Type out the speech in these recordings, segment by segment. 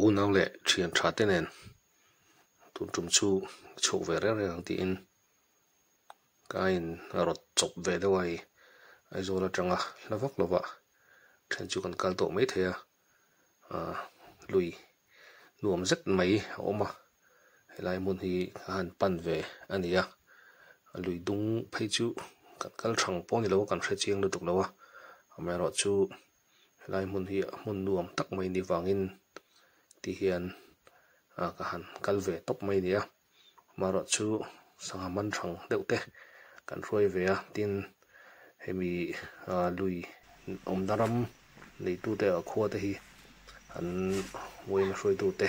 unau leh thianṭha te nen tûnṭum chu ka chhûk ve riau riau ang tiin ka ain a rawt chawp ve deuh a i aizawl aṭanga hla vak lova ṭhen chu kan kal tawh mai thei a ah lui nuam zet mai a awm a helai hmun hi a han pan ve a ni a a lui dûng phei chu kan kal ṭhang pawh a ni lo kan hre chiang lutuk lo a amaherawhchu. helai hmun hi a hmun nuam tak mai ni vangin ti hian ah ka han kal ve tawp mai nia amarawh chu sangha man hrang deuh te kan hruai ve a tin hemi ah lui awmna ram neitu te ah khua te hi an uaina hruaitu te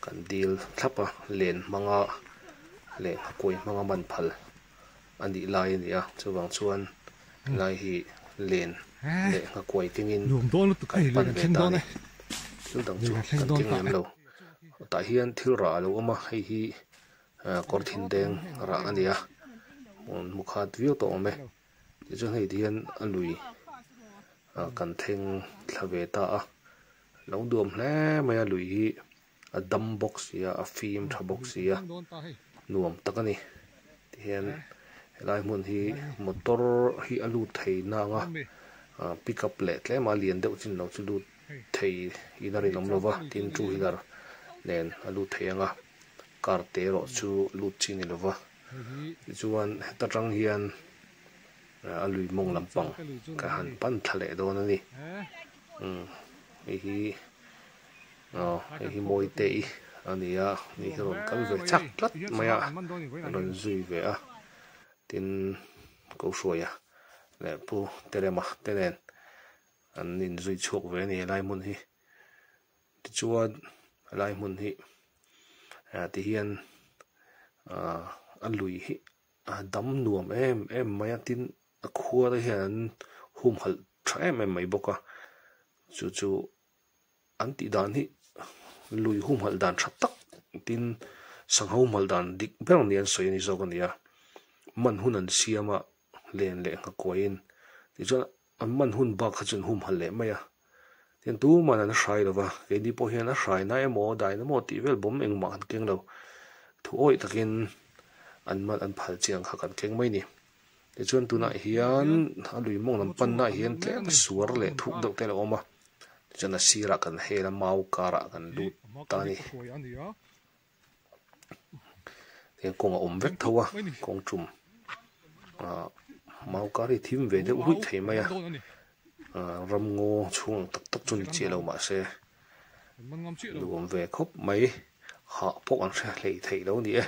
kan dil thlap a len hmanga leh nghakuai hmanga man phal. A nih lai a nia, chuvang chuan helai hi len leh nghakuai kengin kan pan ve ta a ni. Thil dang chu kan keng lem lo. Tah hian thil rah a lo awm a, hei hi kawr thin deng rah a nia, hmu khat viau tawh awm e. Tih chuan hei ti hian a lui kan thengthla ve ta a, lo duam hle mai a lui hi. a dam bawk sia a fim tha bawk sia nuam tak a ni tihian helai hmun hi motor hi a lut thei na anga ah pickup leh tlema lian deuh chin lo chu lut thei in a rin awm lova tin two wheeler nen a lut thei anga car te erawh chu lut chin ni lova tichuan heta tang hian a lui mawng lampang ka han pan thla leh dawn a ni umm hei hi. Hei hi mawi te i a ni a, ni hi a rawn kal ve chak tlat mai a, a rawn zui ve a, tin Ko Hruaia leh Pu Terema te nen an inzui chhuak ve a ni helai hmun hi, tichuan helai hmun hi ti hian a lui hi a dam nuam em em mai a, tin a khuara hian an humhalh tha em em mai bawk a, chu chu. An tih dan hi lui huhmalh dan tha tak tin sang ho hmalh dan dik ber ni an sawi a nih zawk a nia. Man hun an siam a len leh nghakuaiin tichuan an man hun bak kha chuan humhalh leh mai a tin tuman an hrai lo va keini pawh hian a hrai na emaw a dain emaw tih vel bawm engmah kan keng lo thu awih takin an man an phal chiang kha kan keng mai ni. Tichuan tunah hian a lui mawng lam pannaah hian tlem suar leh thuk deuh te a lo awm a, tichuan a sirah kan hel a, mau karah kan lut ta a ni. Tichuan kawng a awm vek tho a, kawng tum ah mau kar hi a thim ve deuh ruih theih mai a, ramngaw chhung ang tak tak chu a ni chiah lo mahse nuam ve khawp mai, hah pawh kan hre hleih theih lo a ni e.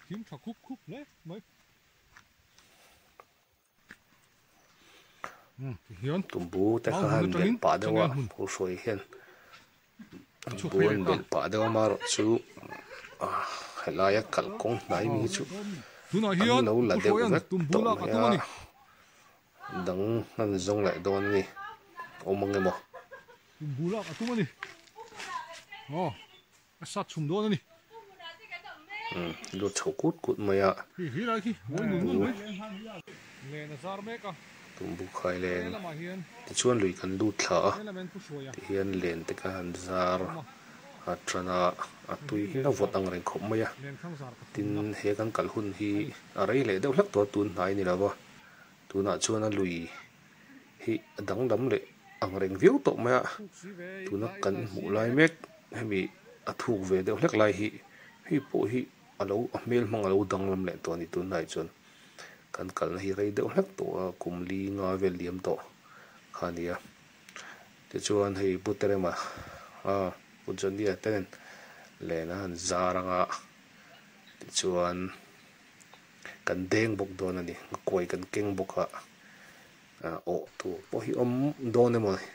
Thim tha khup khup hle mai. Hian tumbu te khan bel pa deuh a pu hruai hian tumbu an bel pa deuh a amarawh chu helai a kal kawng hnai mi chu an lo la deuh vek tawh mai a dang an zawng leh dawn a ni awm ang emaw. A sat chhum dawn a ni. Umm, lu chho kut kut mai a. Hei hi lai khi mawi ngun ngun mai. Len a zar mek a. Tumbuk khai len. Tichuan lui kan lut thla a. Tihian len te kha han zar a tan a. A tui hi a vawt angreng khawp mai a. Tin, he kan kal hun hi a rei leh deuh hlek tuar tun hnai a ni lo va. Tunah chuan a lui hi a danglam leh ang reng viau tawh mai a, tuna kan hmuh lai mek hemi a thuk ve deuh hlek lai hi hei pawh hi a lo a hmel hmang a lo danglam leh tawh a ni tunlai chuan kan kalna hi rei deuh hlek tawh a kum li nga vel liam tawh kha a ni a, tichuan hei bu Terema a bu Johnny-a te nen lehna an zar anga tichuan. kan deng bawk dawn a ni, kawi kan keng bawk a, awh tur pawh hi awm dawn em awni.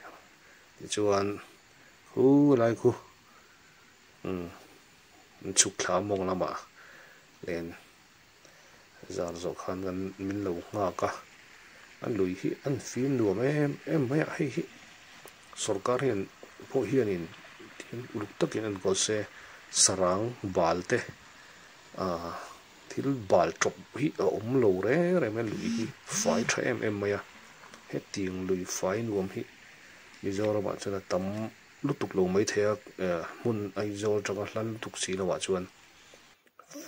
Tichuan hu helai khu min chhuk thla a mawng lamah len zar zawh khan kan min lo nghak a, a lui hi a ni fim nuam em em mai a, hei hi sorkar hian pawh hianin uluk takin a ni kawl se, sarang bal te a. thil bal tawp hi a awm lo re re mai a lui hi fai tha em em mai a hetiang lui fai nuam hi mizoram ah chuan a tam lutuk lo maithei a ehh hmun aizawl atanga hlal lutuk si lohah chuan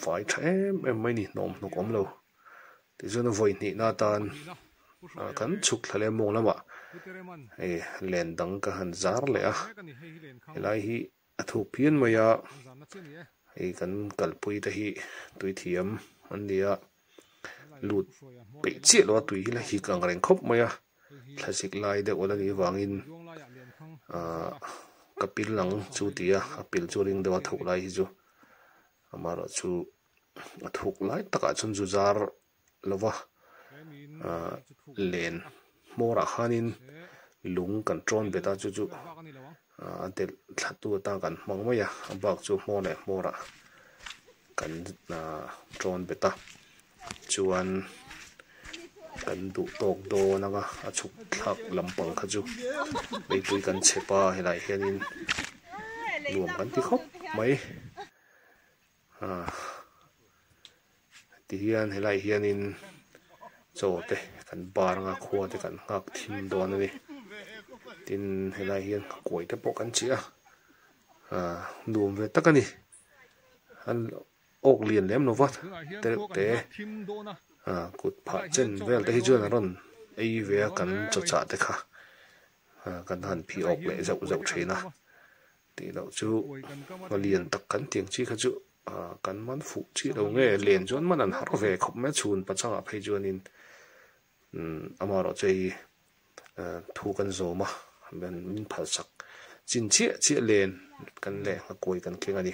fai tha em em mai a ni hnawm hnawk awm lo tichuan a vawi hnih na atan ah kan chhuk thla lem mawng lamah hei len dang ka han zar leh a helai hi-- A thuk pian mai a, hei kan kalpui te hi tui thiam an nia, lut peih chiah lo a tui hi la hik ang reng khawp mai a, thla zik lai deuh a la nih vangin ka pil ang chu ti a, a pil chu a ring deuh a, a thoh lai hi chu, amaherawhchu a thuk lai takah chuan zuzar lo va, ah len hmawrah khanin lung kan ṭawn bet a, chu chu a delh thlatu atan kan hmang mai a, a bak chu hmaw leh hmawrah kan ṭawn bet a, chuan kan duh tawk dawn anga a chhuk thlak lampang kha chu beipui kan chep a, helai hianin nuam kan ti khawp mai. Tihian helai hianin chaw te kan bar anga khua te kan nghak thim dawn a ni tin helai hian khakuai te pawh kan chih a ah nuam ve tak a ni an awk lian lem lova tereuh te ah kut phah chen vel te hi chuan an rawn ei ve a kan chawchah te kha ah kan han phiawk leh zeuh zeuh thin a. Tih loh chu a lian tak kan tiang chi kha chu kan man fuh chi lo nge, len chuan man an har ve khawp mai a, chhun pa changah phei chuanin amarawh chu hei thu kan zawm a, min phalsak chin chiah chiah len kan leh ngha kuai kan keng a ni.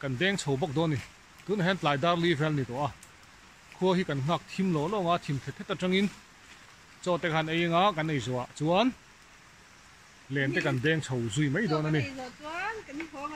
Kan beng chho bawk dawn ni. Tunah hian tlai dar li vel ni tawh a, khua hi kan nghak thim lo lawng a, thim thet thet atangin chaw te khan ei anga kan ei zawh ah chuan len te kan beng chho zui mai dawn a ni.